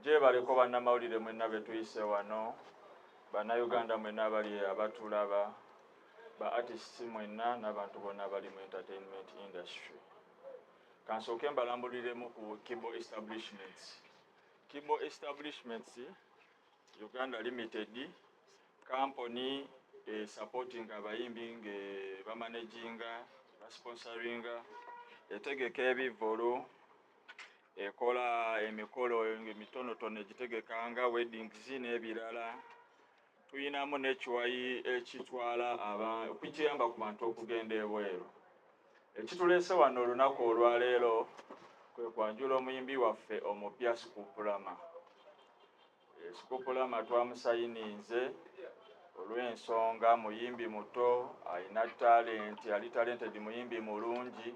gyebaleko bannamawulire mwenna betuyise wano bannayuganda mwenna abali abatulaba ba artist mwenna n'abantu bonna abali mu entertainment industry kansooke mbalambuliremu ku kibo establishments kibo establishments Uganda Limited kampuni esupportinga abayimbi nga bamanaginga basponsoringa etegeka ebivvulu ekola emikolo emitonotono egitegeka nga weddings n'ebirala tuyinamu nekiwayi ekitwala okukiyamba ku bantu okugenda ebweru Ekituleese wano olunaku olwaleero kwe kwanjula omuyimbi waffe omupya Sikuupulama. Eh, Sikuupulama twamusayininze olw'ensonga muyimbi muto alina talenti ali talented muyimbi mulungi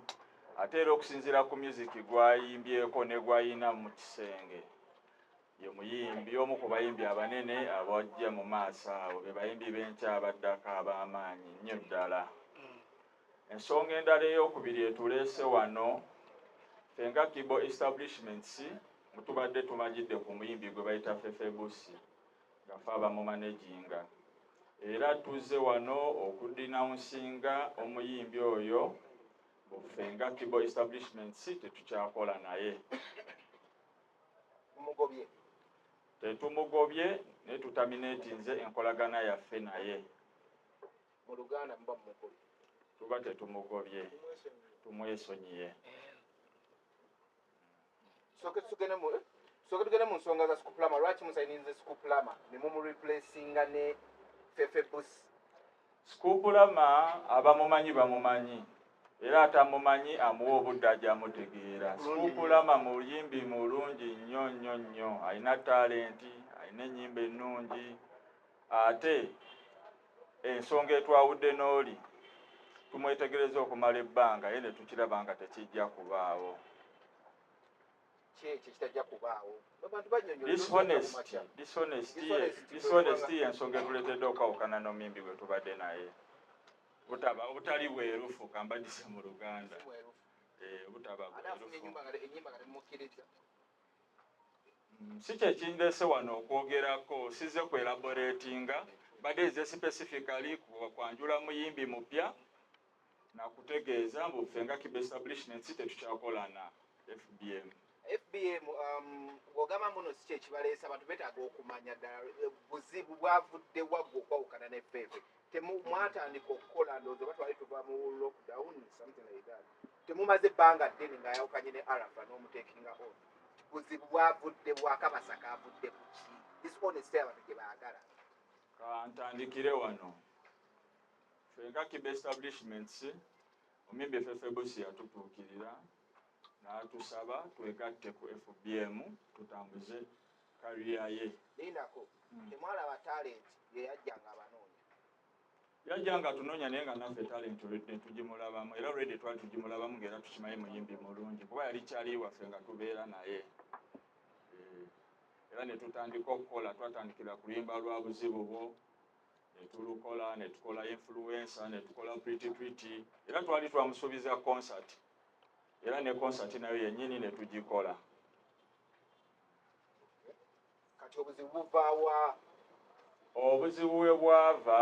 ate era okusinziira ku music gwayimbyeko ne gwayina mu kisenge ye muyimbi omu ku bayimbi abanene abajja mu maaso awo be bayimbi b'enkya abaddako ab'amaanyi nnyo ddala Ensonga endala ey'okubiri etuleese wano, ffe nga Kibo Establishments mu tubadde tumanyidde ku muyimbi gwe bayita Fefe Bussi nga ffe abamumaneginga era tuzze wano okudinawunsinga omuyimbi oyo mbu ffe nga Kibo Establishments tetukyakola naye. Mugobye. Tetumugobye naye tutamineetinze enkolagana yaffe naye. Mu Luganda muba mumugobye. Tuba tetumugobye, tumwesonyiye. Tusooke tugende mu tusooke tugende mu nsonga za Sikuplama. Lwaki musayininze Sikuplama ne mumureplacinga ne Fefe Busi? Sikuplama abamumanyi bamumanyi era atamumanyi amuwa obudde aja amutegeera. Sikuplama muyimbi mulungi nnyo nnyo nnyo, alina talenti, alina ennyimba ennungi ate Ensonga etwawudde n'oli tumwetegereza okumala ebbanga ye ne tukiraba nga tekijja kubaawo. Dishonesty y'ensonga etuleetedde okwawukana n'omuyimbi gwe tubadde naye butaba obutali bwerufu kambadise mu luganda eh, obutaba bwerufu si kyekindeese wano okwogerako size ku elaboratinga mbadde nze specifically kwanjula muyimbi mupya nakutegeeza mbu ffe nga kiba establishments tetukyakolana fbm fbm um, ogamba muno si kyekibaleesa abantu betaaga okumanya ddala eh, buzibu bwavudde waggwe okwawukana ne ffefe temu mwatandika okukola ndozo batwali tuva mu lockdown something like that temumaze banga ddene nga yawukanye ne arafa n'omutekinga on buzibu bwavudde bwakabasa kavudde kuki this honest abantu gye baagala kantandikire wano fenga kiba establishments omimbi efefebusi yatutuukirira n'atusaba twegatte ku fbm tutambuze career ye. Lindako, temwalaba talent ye yajja nga abanoonya? Yajja nga atunoonya naye nga naffe talent already netujimulabamu era already twali tujimulabamu nga era tukimanyi muyimbi mulungi kuba yali cali waffe nga tubeera naye eh, era netutandika okukola twatandikira ku luyimba lwa buzibu bwo netulukola netukola influencer netukola pretty pretty era twali twamusuubiza concert era ne concert nayo yennyini netugikola kati obuzibu buvaawa obuzibu we bwava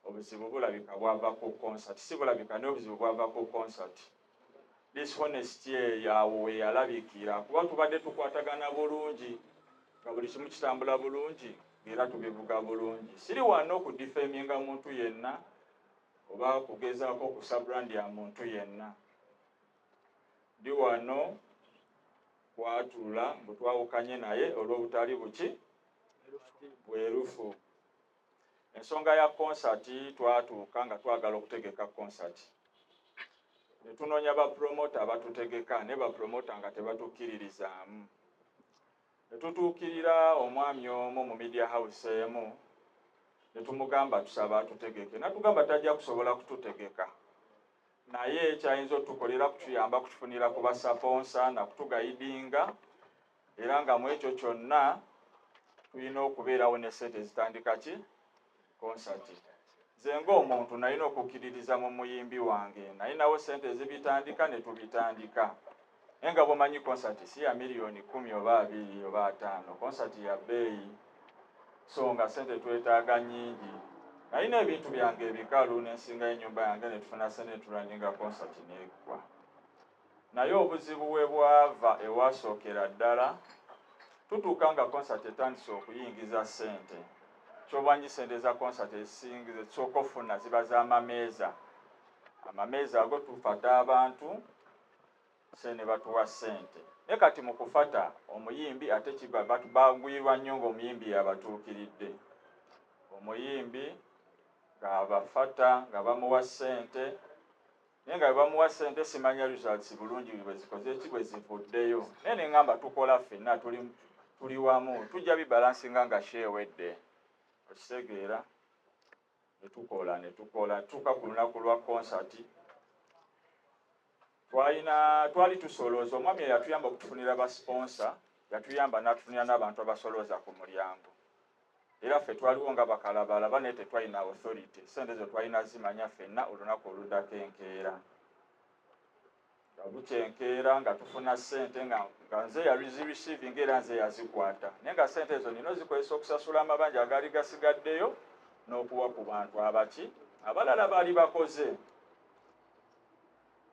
obuzibu bulabika bwava ku concert si bulabika naye obuzibu bwava ku concert dishonesty eyo awo weyalabikira kuba tubadde tukwatagana bulungi nga buli kimu kitambula bulungi era tubivuga bulungi siri wanna okudifeminga muntu yenna oba kugezaako okusa brand ya muntu yenna Ndi wano kwatula mbu twawukanye naye olw'obutali buki bwerufu. Ensonga ya konsati twatuuka nga twagala okutegeka konsati ne tunoonya bapulomota abatutegeka naye bapulomota nga tebatukkiririzaamu ne tutuukirira omwami omu mu media house emu ne tumugamba tusaba atutegeke natugamba tajja kusobola kututegeka naye kyayinza otukolera kutuyamba kutufunira ku basaponsa nakutugayidinga era nga mu ekyo kyonna tulina okubeerawo ne sente ezitandika ki konsati nze ngaomuntu nalina okukkiririza mu muyimbi wange nalinawo sente ezibitandika ne tubitandika naye nga bwomanyi konsati si ya miliyoni kumi oba abiri oba ataano konsati ya bbeeyi so nga sente twetaaga nyingi nalina ebintu byange ebikalu nensingayo enyumba yange netufuna sente neturaninga konsati neggwa naye obuzibu we bwava ewasookera ddala tutuuka nga konsati etandise okuyingiza sente kyobanyi sente za konsati esingi zesooka ofuna ziba zamameeza amameeza ago tufata abantu se nebatuwa sente naye kati mukufata omuyimbi ate kiba but bagwirwa nnyo nga omuyimbi yabatuukiridde omuyimbi ngabafata nga bamuwa sente naye nga bebamuwa sente simanya results bulungi bwezikoze eki bwezivuddeyo naye nengamba tukola ffenna tuli tuli wamu tujja bibalansinga nga sheewedde okitegeera netukola netukola tuka ku lunaku lwa concert twalina twali tusolooza omwami eyatuyamba okutufunira ba sponsor yatuyamba natufunira n'abantu abasolooza ku mulyango era ffe twaliwo nga bakalabalaba naye tetwalina authority sente ezo twalina zimanya fenna olunaku oludako enkeera nga bukya enkeera nga tufuna ssente nga nga nze yali zireceiving era nze yazikwata naye nga ssente ezo nina ozikozesa okusasula amabanja agaali gasigaddeyo n'okuwa ku bantu abaki abalala baali bakoze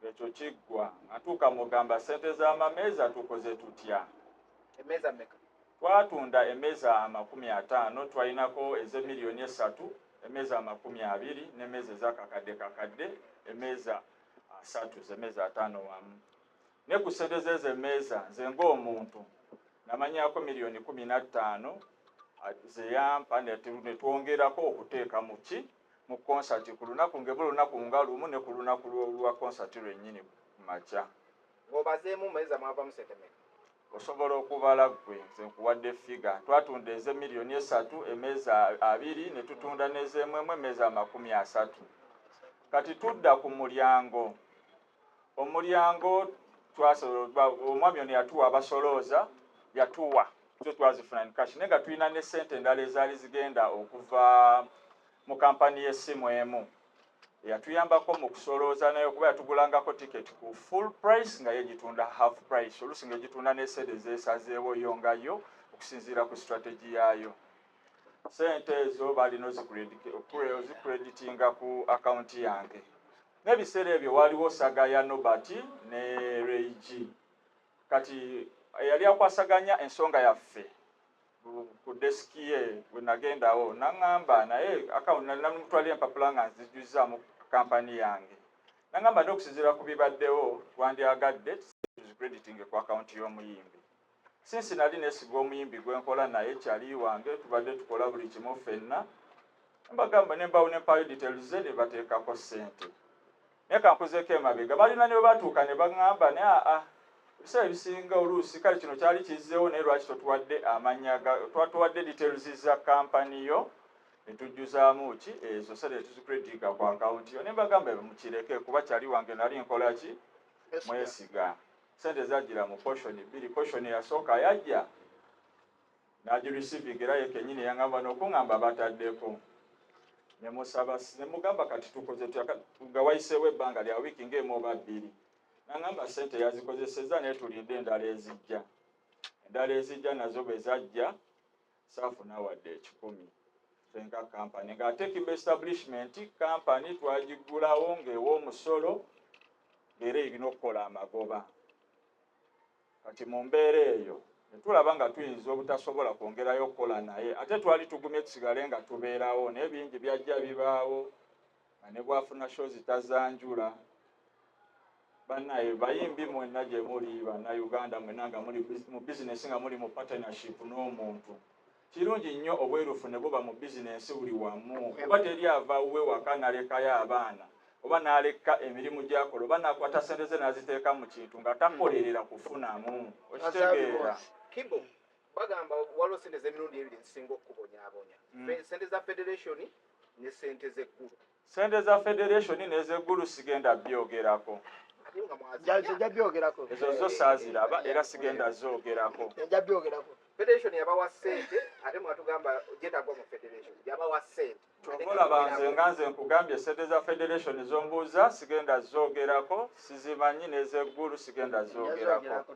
ekyo kiggwa atuuka mugamba ssente z'amameeza tukoze tutya emeeza meka twatunda emeeza amakumi ataano twalinako ez'emiliyoni esatu emeeza amakumi abiri n'emeeza ezakakadde kakadde emeeza asatu zemeza atano wamu ne ku sente zezo emeeza nze ng'omuntu namanyako miliyoni kumi na ttaano zeyampa netwongerako okuteeka mu ki mu konsati ku lunaku ngebo lunaku nga lumu ne ku lunaku lwa konsati lwennyini ku makya Ng'obazeemu meza mwavamu sente meka? Osobola okubala ggwe. Nze nkuwadde ffiga. Twatunda eze miliyoni esatu emeza abiri ne tutunda n'ez'emwemu emeza amakumi asatu. Kati tudda ku mulyango. Omulyango twasobola omwami ono yatuwa abasolooza yatuwa zo twazifuna ni kashi naye nga tulina ne ssente endala ezaali zigenda okuva mu kampani y'essimu emu. eyatuyambako mu kusolooza nayo kuba yatugulangako tiketi ku full price nga ye gitunda half price oluusi nga egitunda n'esente ezeesazeewo yo nga yo okusinziira ku strategy yaayo sente ezo baalina ozikuredditinga ku akawunti yange n'ebiseera ebyo waaliwo saga ya nobert ne reig kati eyali akwasaganya ensonga yaffe ku desk ye wenagendawo nangamba naye account namutwalira empapula nga nzijuzaamu company yange nangamba nti okusinzira ku bibaddewo twandyagadde crediting ku account y'omuyimbi sinsi nali nesiga omuyimbi gwenkola naye kyali wange tubadde tukola buli kimu fenna mbagamba nembawo nempayo details ze nebateekako sente Naye ka nkuzeeko emabega. Balina ne we batuuka ne baŋŋamba, naye aa, ebiseera ebisinga oluusi, kale kino kyali kizzeewo, naye lwaki totuwadde amannya ga, twatuwadde details za company yo, ne tujjuzaamu ki, ezo ssente ne tuzicrediga ku account yo. Ne mbagamba, ebyo mukireke, kuba Charlie wange nnali nkola ki? Mwesiga. Ssente zajjira mu portion bbiri, portion eyasooka yajja. Nagi receiving era ye kenyini yangamba nokungamba batadeko nemusaba nemugamba kati tukoze tuyaka nga wayisewo ebanga lya wiki nga emu oba bbiri nangamba sente yazikozeseza naye tulinde endala ezijja endala ezijja nazo bwezajja saafuna wadde ekikumi fenga kampany nga ate kimba establishment kampany twagigulawo ngaewa omusolo era erina okukola amagoba Kati mu mbeera eyo ne tulaba nga tuyinza obutasobola kwongerayo kukola naye. Ate twali tugumye tusigale nga tubeerawo naye bingi byajja bibaawo nga ne bw'afuna show zitazanjula. Bannaye bayimbi mwenna gye muli, Bannayuganda mwenna nga muli mu bizinensi nga muli mu partnership n'omuntu. Kirungi nnyo obwerufu ne buba mu bizinensi buli wamu kuba teri ava wuwe waka nalekayo abaana oba n'alekka emirimu gy'akola oba n'akwata ssente ze n'aziteeka mu kintu nga takolerera kufunamu. Okitegeera? Kibo, bagamba waliwo ssente z'emirundi ebiri ezisinga okukubonyaabonya, ssente za federation ne ssente z'eggulu. Sente za federation nezegulu sigenda byogerako ezo zo saziraba era sigenda zogerako kyovolaba nze nga nze nkugambye sente za federation zombuuza sigenda zogerako sizimanyi nezegulu sigenda zogerako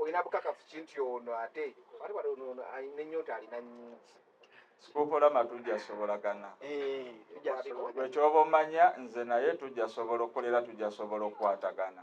olina bukakafu ki nti ono ate ate bali ono ono alina ennyonta alina nnyingi sikukola matujja sobola gana eh, ekyoba omanya nze naye tujja sobola okukolera tujja sobola okukwatagana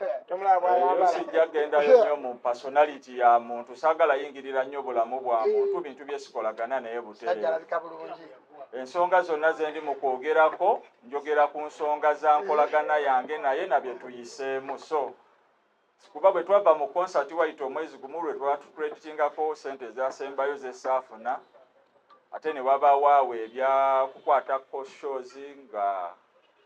eyo sijja gendayo nyo mu personality ya muntu sagala yingirira nnyo bulamu bwa muntu bintu byesikolagana naye butereera ensonga zonna zendi mu kwogerako njogera ku nsonga za nkolagana yange naye na bye tuyiseemu so kuba bwe twava mu konsati wayita omwezi gumu lwe twatukreditingako sente ezasembayo zesaafuna ate ne wabawaawo ebyakukwatako shows nga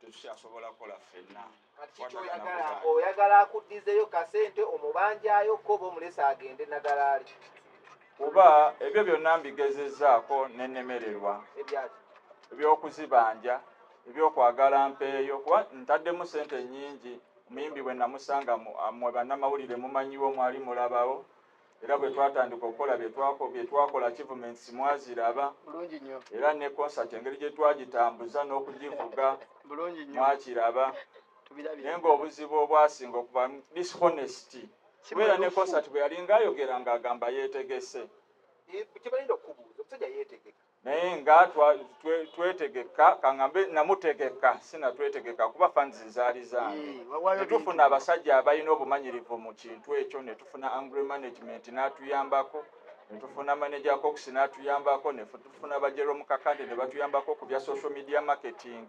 tetukyasobola kola ffenna kati kikyoyagala oyagala akuddizeyo kasente omubanjayo ko oba omulesa agende nagalaali kuba ebyo byonna mbigezezaako nenemererwa ebyokuzibanja ebyokwagala mpeeyo kuba ntaddemu sente nyingi omuyimbi bwe namusanga mwe bannamawulire mumanyiwo mwali mulabawo era bwe twatandika okukola bye twakola achievements mwaziraba era ne concert engeri gye twagitambuza n'okugivuga mwakiraba naye ng'obuzibu obwasinga okuba dishonesty kubeera ne concert bwe yali ng'ayogera ng'agamba yeetegese eh, naye nga twetegeka kangambe namutegeka sinatwetegeka kuba fans zaali zange eh, netufuna abasajja abalina obumanyirivu mu kintu ekyo netufuna angry management n'atuyambako netufuna manager cox n'atuyambako netufuna bajero mukakande ne batuyambako ku bya social media marketing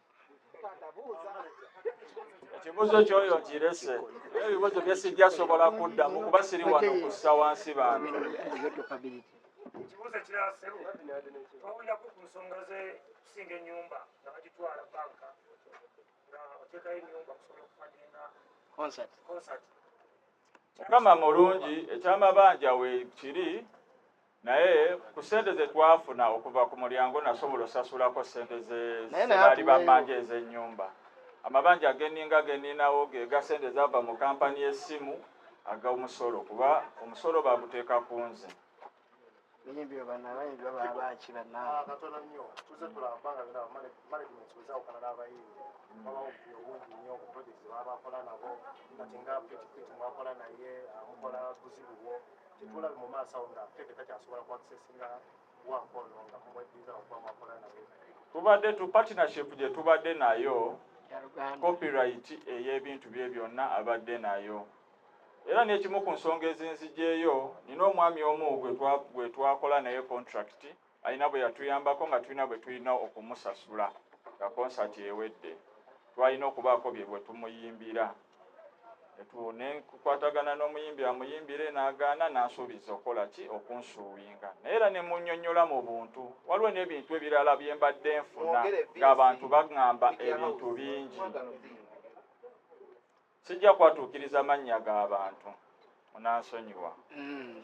ekibuzo kyoyo nkirese naye ebibuzo byesijja sobola kuddamu kuba siri wano kussa wansi bantu ekibuzo ekirala sebo twawulirako ku nsonga zekusinga enyumba nga bagitwala banka nga oteekayo enyumba kusobola okufadinga concert mukama mulungi ekyamabanja wekiri naye ku sente zetwafuna okuva ku mulyango nasobola osasulako sente zebaali bamanja ezenyumba amabanja ageninga geninawo gega sente zava mu kampani yesimu aga omusolo kuba omusolo baguteeka ku nze Tetulabe mu maaso awo nga Kevin takyasobola ku accessinga waako ono nga mumweddiza okuba mwakola naye. Tubadde tu partnership gye tubadde nayo copyright ey'ebintu bye byonna abadde nayo era n'ekimu ku nsonga ezinzigyeyo nina omwami omu gwe twakola naye contract Alina bwe yatuyambako nga tulina bwe tulina okumusasula nga konsati ewedde. Twalina okubaako bye bwe tumuyimbira ne nkwatagana n'omuyimbi amuyimbire n'agaana n'ansuubiza okukola ki okunsuuwinga naye era ne munnyonnyola mu buntu. Waliwo n'ebintu ebirala bye mbadde nfuna ng'abantu baŋŋamba ebintu bingi. Sijja kwatuukiriza mannya ga bantu, munansonyiwa. Mm.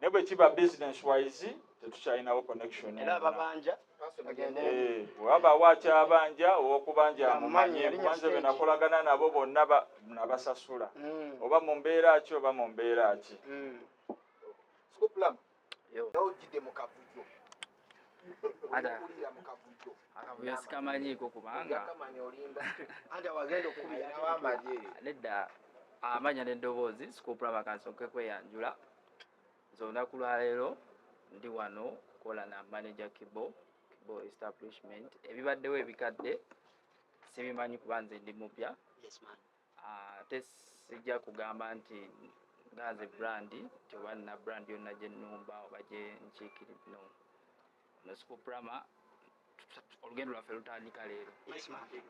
ne bwe kiba business wise tetukyalinawo connection era ababanja eh, wabaawo akyabanja owokubanja amumanye kubanze be nakolagana nabo bonna nabasasula hmm. oba mu mbeera ki oba mu mbeera ki hmm. akavuyo sikamanyiiko kubanga nedda amanya n'eddoboozi sikuupula bakansoke kweyanjula nze olunaku lwaleero ndi wano kukola na manager kibo kibo establishment ebibaddewo ebikadde sibimanyi kuba nze ndi mupya ate sijja kugamba nti nga nze brand nti oba nina brand yonna gye nnumba oba gye nkiikirira no ono sikuprama olugendo lwaffe lutandika leero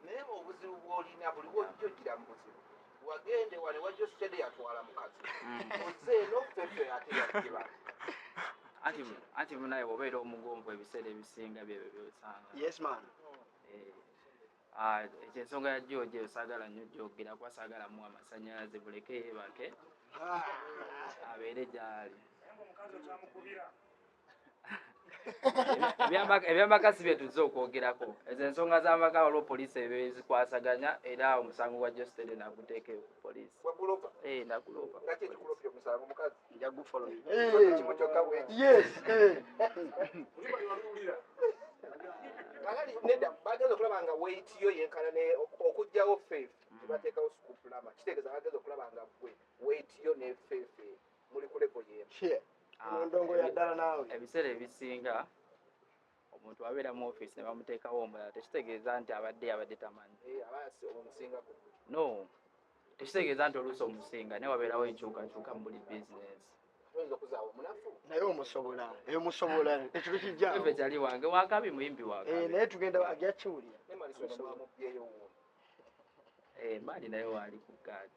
naye obuzibu bwolina buli wojja ojjira mu buzibu wagende wali wajjo sitede yatwala mukazi mm. oze nofefe ate yakiba anti munaye obeera omugonvu ebiseera ebisinga byebyo byosanga yes man eh. Ah, ekyo ensonga ya george eyo saagala nnyo gyogera kuba saagala muwa amasannyalaze buleke yeebake abeere gyali ebyamaka si byetuzze okwogerako ezo ensonga z'amaka waliwo poliisi ebezikwasaganya era omusango gwa jostede naguteekeyo ku poliisi eh, nagulopa nja gufollow eh. kimu kyokka bwe yes eh. Kalali neda bageza okulaba nga weight yo yenkana ne okujjawo faith mm. tebateekawo school plama kitegeeza bageza okulaba nga gwe weight yo ne faith muli ku level yemu ah, ndongo ya ddala naawe ebiseera ebisinga omuntu abeera mu office ne bamuteekawo omulala tekitegeeza nti abadde abadde tamanyi eh, no tekitegeeza nti oluusi omusinga naye wabeerawo enkyukakyuka mu buli bizinesi naye omusobola eyo eh, musobola ekintu kijjakyali wange wakabi muyimbi wange eh, naye tugenda ajja kiwulira emaali naye waali ku gaadi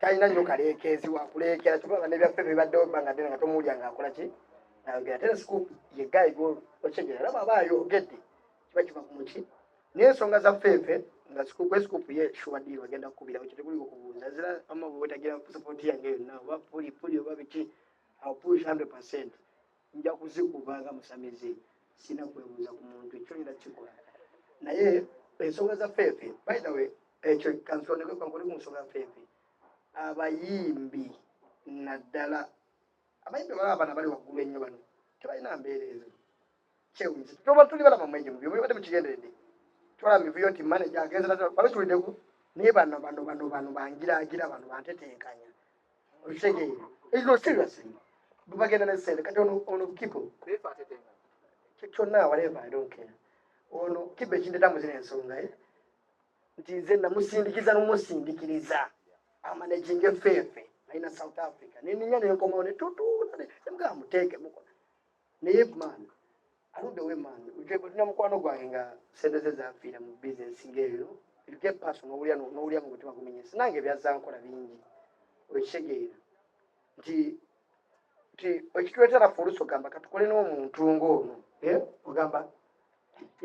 talina nnyo kaleekeezi wakuleekera kyoba nebyaffe bibaddewo ebbanga ddene nga tomuwulya nga akola ki nayogera ate nsiku yegayi okyegera era bwaba ayogedde kiba kiva ku muki naye ensonga za ffeefe nga kwesikupu ye shuwadiri wagenda kukubira ekyo tekuli okubuuza zira ama bwetagira sapooti yange yonna oba puli puli oba biki apush hundred percent nja kuzikuba nga musamize sina kwebuuza ku muntu ekyo nina kikola naye ensonga za feefe by the way ekyo kansondekwekwankuli ku nsonga feefe abayimbi naddala abayimbi bala abana bali waggulu ennyo bano tebalina mbeera ezo kyewunyisa toba tuli balaba mwejo mubyo mubibadde mukigenderedde twala mivuyo nti manaja agenza bano tulideku naye bano bano bano bano bangiraagira bano bantetenkanya bagenda nesente kati ono kibo kyonna whatever i don't care ono kibo ekindeta muzina ensonga eh? nti nze namusindikiza nomusindikiriza amanaginga efeefe alina south africa neninya nenkomawo netutuula nemugaa muteeke muko naye man Aludde we man, ujje kulina mukwano gwange nga sente ze zafiira mu business ng'eyo. You get person n'owulira n'owulira mu mutima gumenyese. Nange byazza nkola bingi. Okitegeera nti nti ekituleetera ffe oluusi ogamba katukole n'omuntu ng'ono eh, ogamba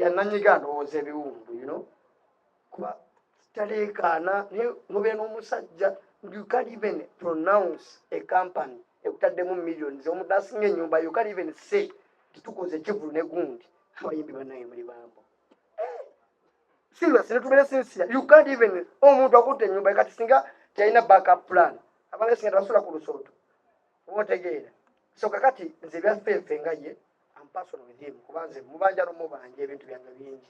yananyiga ndowooza ebiwundu you know kuba taleekaana naye nobeera n'omusajja you can even pronounce a company ekutaddemu millions omuntu asinga ennyumba you can even say titukoze ekivulu ne gundi abayimbi banaye muli bambo eh, serious netubeere sinsia you can't even omuntu akutte ennyumba kati singa kyalina backup plan abanga singa tebasula ku lusooto oba otegeera so kakati nze ebyaffe nfe nga ye ampasona with him kuba nze mubanja nomubanja ebintu byange bingi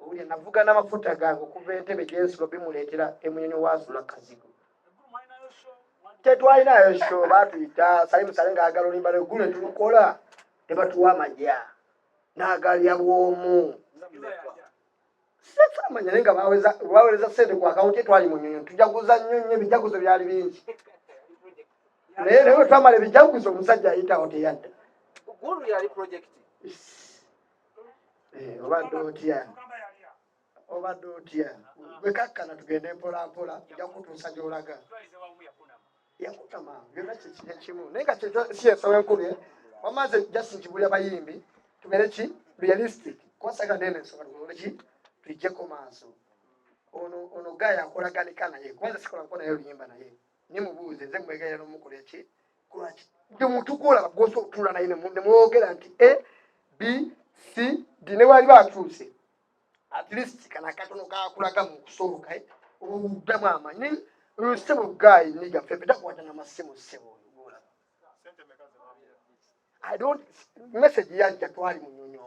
owulira navuga n'amafuta gange okuva entebe gyensula bimuleetera emunyonyi waasula kazigo tetwalinayo sho batuyita salimusale ngaagala olimba neggulu netukola ne batuwa amagya n'agalya bwomu sefamanya naye nga bawereza sente ku akawunti twali mu nyonyo tujaguza nnyo nnyo ebijaguzo byali bingi naye naye wetwamala ebijaguzo omusajja ayitawo teyadda eh, obadde otya obadde otya wekakkana tugende mpolampola ja kutuusa gyolaga yakutama byona kyekiri ekimu naye nga kyesiyesawo enkubye wamaze just nkibulya bayimbi tubeere ki realistic kwasaga nene ensonga tukoleki tuijjeko maaso ono ono gaya akolaganika naye kubanga sikola nko naye oluyimba naye ne mubuuze nze mwegayira nomukola eki kulwaki buli muntu gwolaba gwosa otuula naye nemwogera nti a b c d ne bwali bakyuse at least kana katono kakulaga mu kusooka eh, obuddamu amanyi lusebo gayi niga fefe takwata na masimu sebo gwolaba i don't message yajja twali munyonyo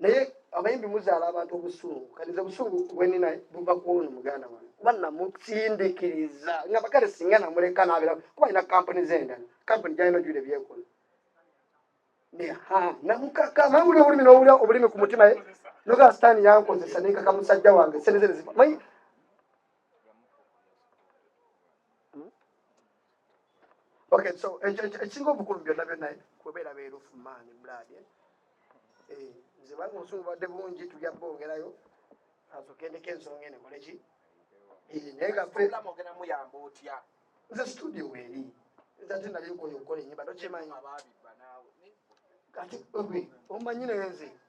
naye abayimbi muzaala abantu obusungu kaniza obusungu bwenina buva kuono muganda wange kuba namusindikiriza nga bakale singa namuleka nabera kuba alina kampuni zendala kampuni gyalina ojule byekola namukaka nawulira obulimi nowulira obulimi ku mutima ye nogaa sitaani yankozesa nekaka musajja wange sente zene zifa Okay, so ekisinga obukulu byonna byonna kubeera beerufu maani bulaadi eh? eh, nze banga obusungu badde bungi tujja bongerayo azogendeko ensonga ene koleki eh, naye nga muyamba otya nze studio weeri nze ate nali nkoyo okukola enyimba tokyemanyi kati omanyi naye nze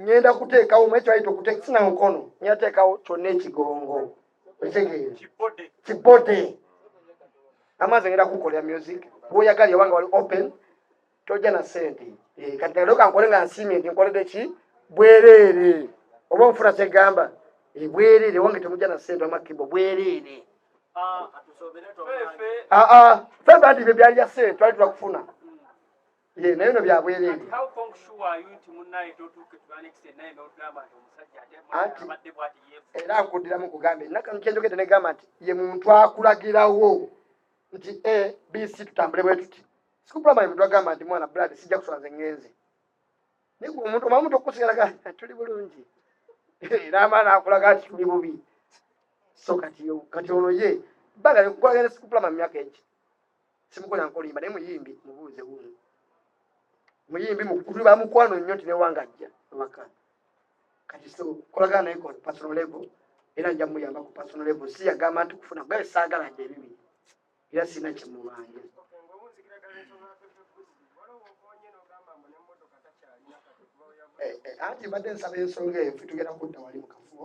ngenda kuteekawo mwekyayita okuteeka sina mukono ngenda teekawo kyonna ekigongo ekitegeere kibode amaazi ngenda kukolera music bwoyagala yobanga wali open tojja na sente eh, kati naloka nkole nga nsiimye nti nkolede ki bwereere oba nfuna kyegamba eh, bwereere wange temujja na sente amakibo bwereere ah, ah, ah, fe bandi bye byali bya sente twali twakufuna Ye naye no bya bwerere. How come sure are you nti munnaye totuuke to an extent naye n'ogamba nti omusajja ate abadde bwati yeefu. Era nkuddiramu kugambye naka nkyendogedde ne gamba nti ye muntu akulagirawo nti A B C tutambule bwe tuti. Sikupulama ye muntu agamba nti mwana blood sijja kusula nze ngenze. Naye gwe omuntu omamu tokusigala ga tuli bulungi. Era amaana akulaga nti tuli bubi. So kati kati ono ye bagala okukulaga ne sikupulama mu myaka egyo. simukola nkolimba naye muyimbi mubuuze wuuno muyimbi mukulu bamukwano nnyo nti newanga ajja ewaka kati so kolagana naye kon personal level era nja muyamba ku personal level si yagamba nti kufuna kugabe saagala nti ebibi era sirina kyemubanja eh, eh, anti mbadde nsaba ensonga eyo fetugenda kudda wali mukafubo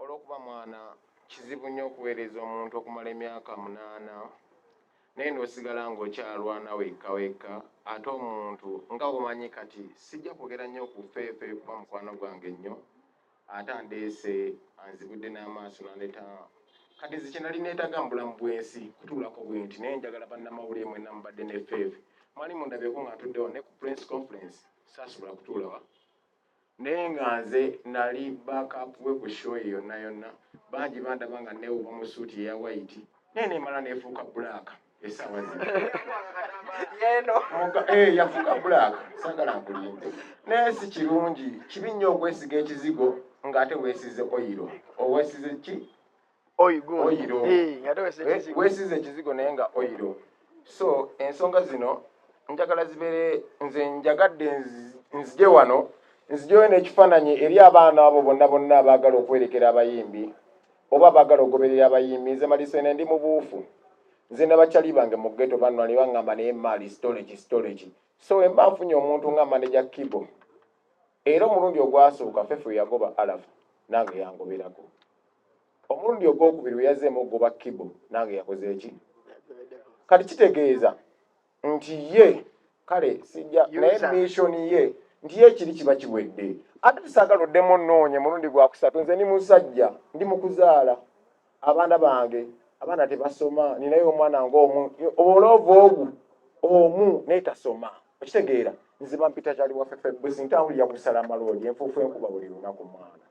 Olw'okuba mwana, kizibu nnyo okuweereza omuntu okumala emyaka munaana naye n'osigala ng'okyalwana wekka wekka ate omuntu nga bw'omanyi kati sijja kwogera nnyo ku Feefe kuba mukwano gwange nnyo ate andeese anzibudde n'amaaso n'andeeta kati nze kye nali neetaaga mu bulamu bw'ensi kutuulako bwenti naye njagala bannamawulire mwenna mubadde ne Feefe mwali mundabyeko nga ntuddewo ne ku Press Conference saasobola kutuulawa Naye nga nze nali back up we ku show ye yonna yonna. Bangi bandaba nga neewuba mu suit eya white naye nemala nefuuka black esaawa zino. Yeno. Muga- eh, yafuuka black sagala nkulimbe naye si kirungi kibi nnyo okwesiga ekizigo ng'ate weesize oyiro owesize ki oyiro wesize ekizigo naye nga oyiro so ensonga zino njagala zibeere nze njagadde nzije wano nzijeyo n'ekifaananyi eri abaana abo bonna bonna abaagala okwerekera abayimbi oba abaagala okugoberera abayimbi nze malisene ndi mubuufu nze nabakyali bange mu geto banwani baŋŋamba naye maali storage storage so emba nfunye omuntu nga maneja kibo era omulundi ogwasooka fefe yagoba alafu nange yangoberako omulundi ogwokubiri bwe yazzeemu okugoba kibo nange yakoze eki kati kitegeeza nti ye kale sijja naye mission ye nti ye kiri kiba kiwedde ate tusaagala oddemu onoonye mulundi gwakusatu nze ndi musajja ndi mukuzaala abaana bange abaana tebasoma ninaye omwana ngaomu obuloova ogu omu naye tasoma okitegeera nziba mpita kyali wafefebusi ntambulira kusala maloodi enfuufu enkuba buli lunaku mwana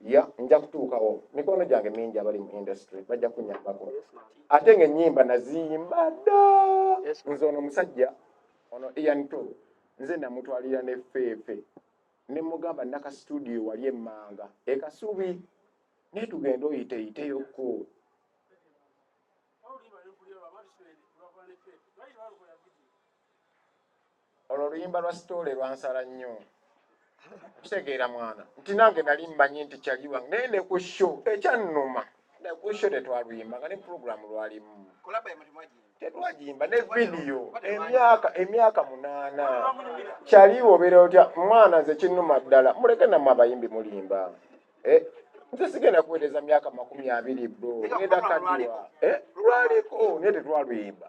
ya nja kutuukawo mikono gyange mingi abali mu industry bajja kunyambako ate nga enyimba naziyimba da nze ono omusajja ono ian to nze namutwalira ne feefe ne mugamba naka studio wali emmanga ekasubi naye tugenda oyiteiteyoko Olwo oluyimba lwa sitole lwansala nnyo. Kitegeera mwana nti nange nali mmanyi nti kyali wange naye ne ku sho ekyannuma ne ku sho tetwaluyimba nga ne pulogulaamu lwalimu tetwagimba ne vidiyo emyaka emyaka munaana kyali obeera otya mwana nze kinnuma ddala muleke namwe abayimbi mulimba eh, nze sigenda kuweereza myaka makumi abiri bro ngenda kadiwa eh, lwaliko naye tetwaluyimba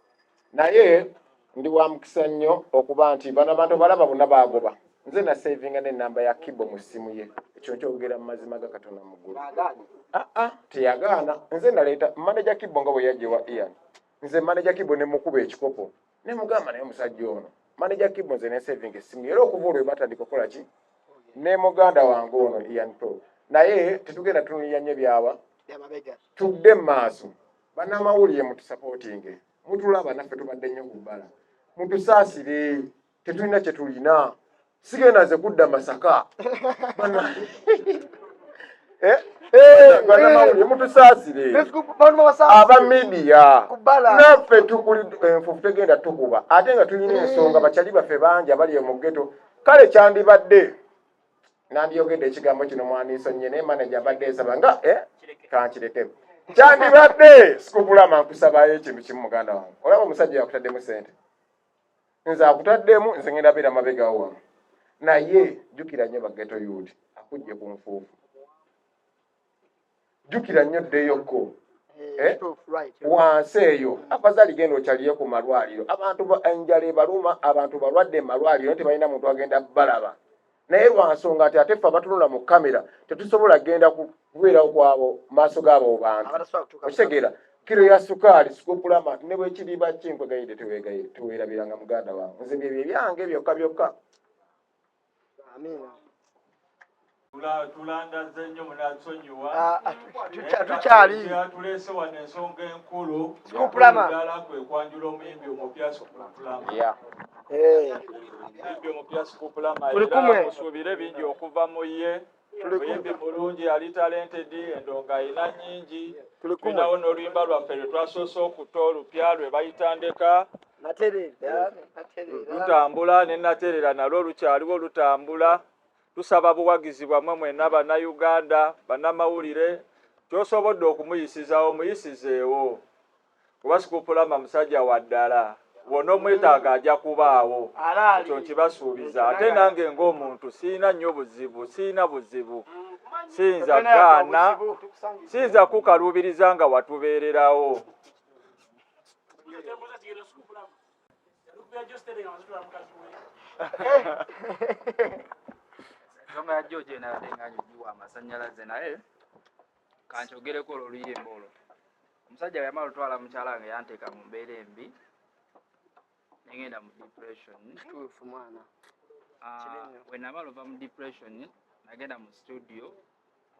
naye ndi wa mukisa nnyo okuba nti bano abantu balaba bonna baagoba nze nasavinga nenamba ya kibo mu ssimu ye ekyo nkyogera mu mazima ga katonda muggulu aa ah, ah, teyagaana nze naleeta maneja kibo nga bwe yajjewa ian nze maneja kibo ne mukuba ekikopo ne mugamba naye omusajja ono maneja kibo nze nesavinga essimu era okuva olwe batandika okukola ki ne muganda wange ono ian pro naye tetugenda tunulira nnyo byawa tudde mu maaso Banamawulire mutusapotinge mutulaba naffe tubadde nnyo ku bbala mutusaasire tetulina kye tulina sigenda nze kudda masaka eh? eh, banamawulire eh. mutusaasire aba midiya naffe tukuli enfufu tegenda tukuba ate nga tulina ensonga bakyali baffe bangi abali mu geto kale kyandibadde nandyogedde ekigambo kino mwandisonyiye naye manaja mbadde nsaba nga eh, kankireke kyandibadde sikugulama nkusabayo ekintu kimu muganda wange olaba omusajja yakutaddemu sente nze akutaddemu nze ngenda beera mabegawo wano naye jjukira nnyo bageto yuuti akujje ku nfuufu jjukira nnyo ddeyokko eh, eh, wansi eyo afazali genda okyaliye ku malwaliro abantu enjala ebaluma abantu balwadde mu malwaliro naye tebalina muntu agenda balaba naye lwansonga nti ate ffe abatunula mu kamera tetusobola genda kubeerawo kwabo maaso gaabo bantu okitegeera kiro ya sukaali sikukulama ne bwekiriba kinkwegaide tewerabiranga muganda wange nze byebyo ebyange byokka byokka Amina. Tulangazze nnyo munatusonyiwa ah, ah, tukyali tuleese wano ensonga enkulu ddala kwe kwanjula omuyimbi omupya Sukupulama. Eh. Omuyimbi omupya Sukupulama era musuubire bingi okuva mu ye. Muyimbi mulungi ali talented endongo alina nyingi. Tulinawo n'oluyimba lwaffe lwe twasoose okuta olupya lwe bayita ndeka lutambula ne naterera nalwo lukyaliwo lutambula. Tusaba buwagizi bwammwe mwenna Bannayuganda, bannamawulire ky'osobodde okumuyisizawo muyisizeewo. Kuba Sikuppulama musajja wa ddala, bwona omwetaaga aja kubaawo, ekyo nkibasuubiza. Ate nange ng'omuntu sirina nnyo buzibu, sirina buzibu. Siyinza gaana, siyinza kukukaluubiriza nga watubeererawo. Ensonga ya George enabadde nga nyugiwa amasanyalaze naye kankyogereko olwo luyimba olwo. omusajja weyamala olutwala mukyala wange yanteeka mu mbeera embi nengenda mu depression kituufu mwana ah, wenamala ova mu depression nagenda mu studio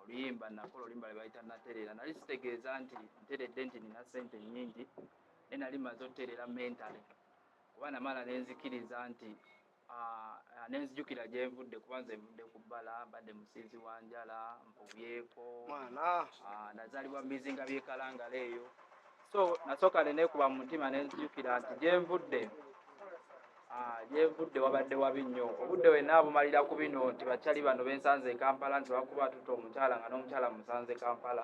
oluyimba nakola oluyimba lwebayita natereera nali sitegeeza nti nteredde nti nina sente nyingi naye nali maze otereera mentale kuba namala nenzikiriza nti Ah, nenzijukira gyenvudde kuba nze nvudde ku bbala mbadde musiizi wa njala mpubyeko mwana ah, nazaalibwa mubizinga byekalangala eyo so nasooka nenekuba mu mutima nenzijukira nti gyenvudde ah, gyenvudde wabadde wabi nnyo obudde wenna abumalira ku bino nti bakyali bano bensanze e kampala nti bakuba atuta omukyala nga n'omukyala musanze kampala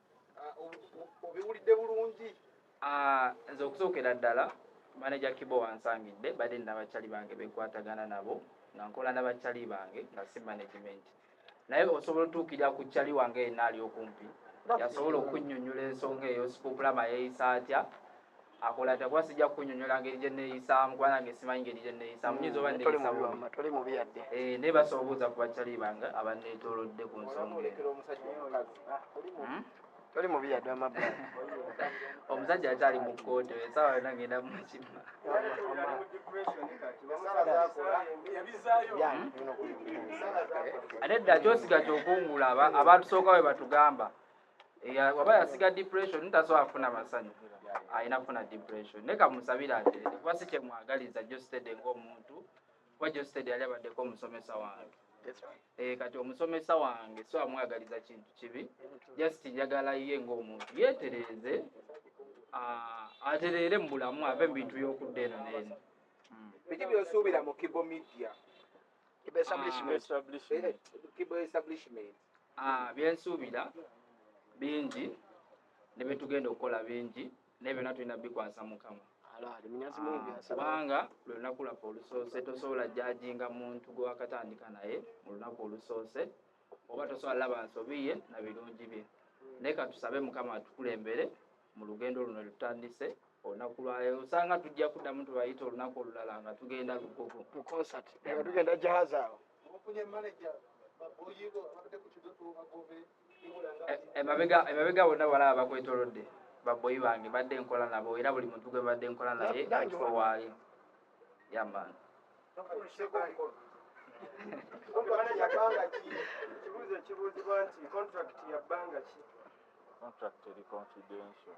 obiwulidde bulungi ah, nze okusookera ddala maneja kibo wansangidde badde nabakyali bange bekwatagana nabo nga nkola nabakyali bange nga si management naye osobola otuukirira ku kyali wange yenna ali okumpi yasobola okunyonyola ensonga eyo sikukulama yeyisa atya akola atya kuba sijja kukunyonyola ngeri gye neeyisaamu kuba nange simanyi ngeri gye neeyisaamu nyinza oba neeyisatoli mm, mubi yadde eh, naye basobola obuuza ku bakyali bange abanneetoolodde ku nsonga hmm? toli mubi yadde amab omusajja akyali mu kkooti esaawa yona ngenda mukima ate dda kyosiga kyokungula abatusooka we batugamba eya waba yasiga depression taso afuna masanyu ayina funa depression ne kamusabira ate kuba si kyemwagaliza jostede ng'omuntu kuba jostede yali abaddeko omusomesa wange eh, kati omusomesa wange so amwagaliza kintu kibi just njagala ye ng'omuntu yetereeze ah, atereere mu bulamu ave mu bintu by'okudda eno neeno hmm. biki byosuubira mu kibo media kibo establishment ah. eh, eh, Ah, byensuubira bingi ne bye tugenda okukola bingi naye byonna tulina bikwasa mukama ah, kubanga lwe lunaku lwaffe olusoose tosobola jajinga muntu gwe wakatandika naye mu lunaku olusoose oba tosobola laba nsobi ye na birungi bye hmm. naye katusabe mukama atukulembere mu lugendo luno lutandise olunaku lwayo osanga tujja kuddamu tubayita olunaku olulala nga tugenda lugogo mu concert nga tugenda jahazi awo Mukunye manager baboyigo abadde ku kidoto bagobe emabega emabega bonna balaba bakwetolodde baboyi bange badde nkola nabo era buli muntu gwe badde nkola naye ekifo waali yaman ekibuuzo ekibuuzibwa nti contract ya bbanga ki contract eri confidential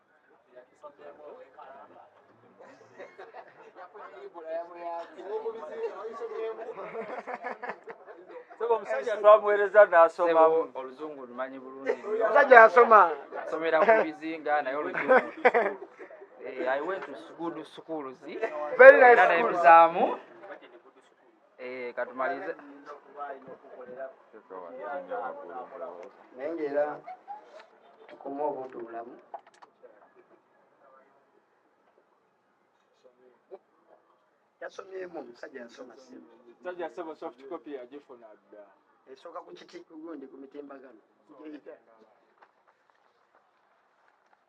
Sebo omusajja twamuweereza n'asoma. Oluzungu lumanyi bulungi. Omusajja yasoma. Asomera ku bizinga naye oluzungu. Eh, I went to good schools. Very nice schools. Eh, katumalize naye ngaera tukuma obuntu bulamu yasomyemu omusajja yasoma sajja sebo soft copy yagifuna dda esooka ku kiti gundi ku mitimbagano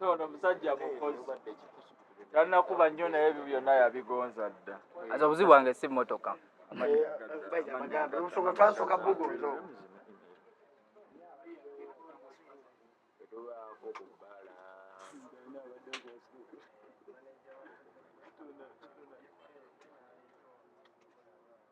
ono musajja mukozi tanakuba nnyo naye ebyo byonna yabigonza dda aza obuzibu wange si motoka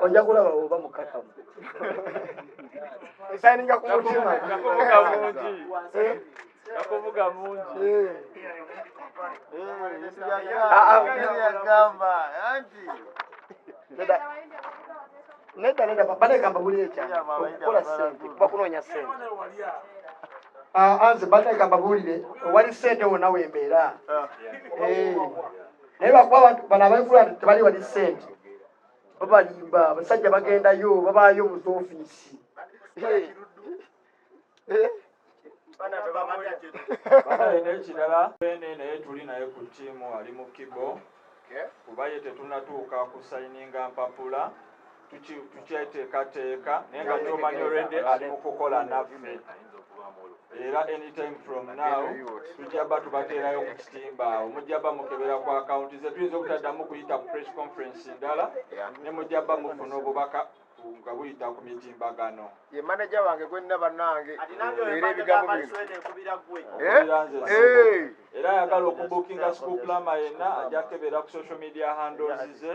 ojja kulaba oba mukakamu esayininga ku mutima nakuvuga mungi eh? nakuvuga mungi eh. nedda nedda papa negamba buli ekyana okukola sente kuba kunoonya sente ah, anze banegamba buulire owali sente wona wembeera ah. eh. naye bakuba abantu bano abaikula nti tebali wali sente babalimba abasajja bagendayo babaayo mu ofiisi nekirala ene naye tuli naye ku tiimu ali mu kibo kuba ye tetunatuuka ku sayininga mpapula tukyeteekateeka naye nga kyomanyi olwedde ali mu kukola naffe era anytime from now tujjaba tubateerayo ku kitimba awo mujjaba mukebera ku akawunti ze tuyinza obutaddamu kuyita ku press conference ndala ne mujjaba mufuna obubaka nga buyita ku mitimbagano ye maneja wange gwenna bannange era ebigambo era ayagala okubukinga school plama yenna ajja kukebera ku social media handles ze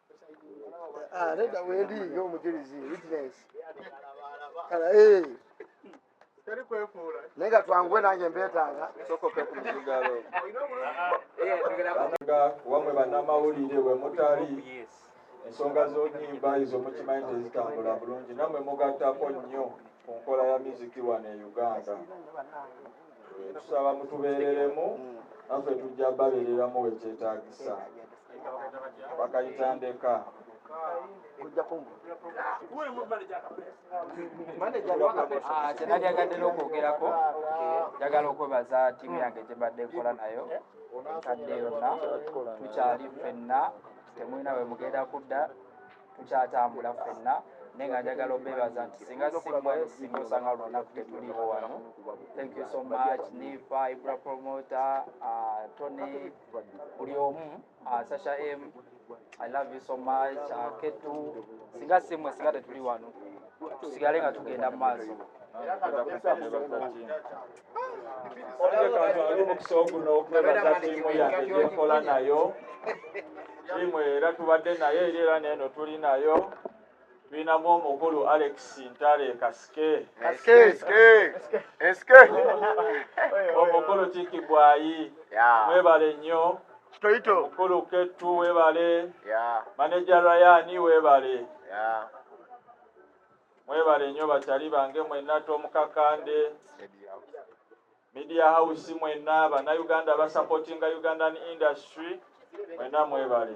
Ah, nedda wendi ng'omujulizi witness kala eh. naye nga twanguwe nange mbeetaaga nga wamwe bannamawulire we mutali ensonga z'onyimba ezo mukimanyi tezitambula bulungi nammwe mugattako nnyo ku nkola ya miziki wano e uganda tusaba mutubeereremu naffe tujja babeereramu wekyetagisa bakayita ndeka kyenalyagadde nokwogerako njagala okwebaza tiimu yange gyebadde nkola nayo kadde yonna tukyali ffenna temulina wemugenda kudda tukyatambula ffenna naye nga njagala obebaza nti singa simwe singa osanga lunaku tetuliwo wano thank you so much nifa ibra promota uh, tony buli omu uh, sasha m i love you so much uh, ketu singa simwe singa tetuli wano tusigale nga tugenda mu maaso omukusaogunokwebazatimuyaekola nayo tiimu era tubadde naye eri era neeno tuli nayo tulinamu omukulu alex ntale kasike omukulu kikibwayi mwebale nnyo mukulu ketu webale maneja rayani webale Mwebale nnyo bakyali bange mwenna Tom Kakande, Media House mwenna, bannayuganda abasapotinga Ugandan industry mwenna mwebale.